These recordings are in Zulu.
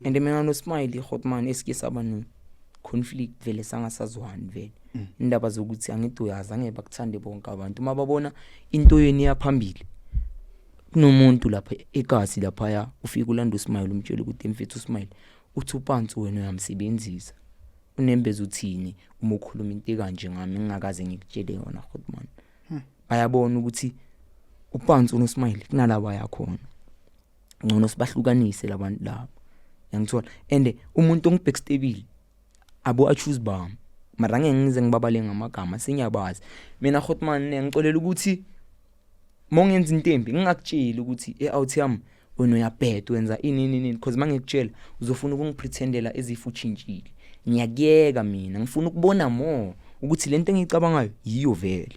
and mina no smile hotman eske saba no conflict vele sangasazwani vele mm. indaba zokuthi angithi uyazi angeke bakuthande bonke abantu uma babona into yenu iyaphambili kunomuntu lapha ekasi lapha ya ufika ulanda usmile umtshela ukuthi mfethu usmile uthi upantsi wena uyamsebenzisa unembeza uthini uma ukhuluma into kanje ngami ngingakaze ngikutshele yona hotman hmm. bayabona ukuthi upantsi unosmile kunalaba yakhona ngcono sibahlukanise labantu labo yangithola and umuntu ongibackstabile abo achoose bami mara ngeke ngize ngibabale ngamagama sengiyabazi mina hotman ngicolela ukuthi mongenza into embi ngingakutsheli ukuthi e-out yami wena uyabheda wenza ini nini nini because mangikutshela uzofuna ukungipretendela ezifu uchintshile ngiyakuyeka mina ngifuna ukubona more ukuthi lento engiyicabangayo yiyo vele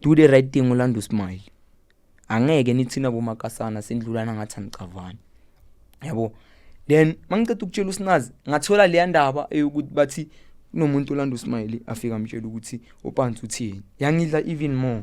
do the right thing ulanda usmile angeke nithina bomakasana sindlulana ngathi anicavani yabo then mangiceda ukutshela usinazi ngathola leya ndaba eyokuthi bathi kunomuntu olanda usmile afika amtshela ukuthi upansi uthini yangidla even more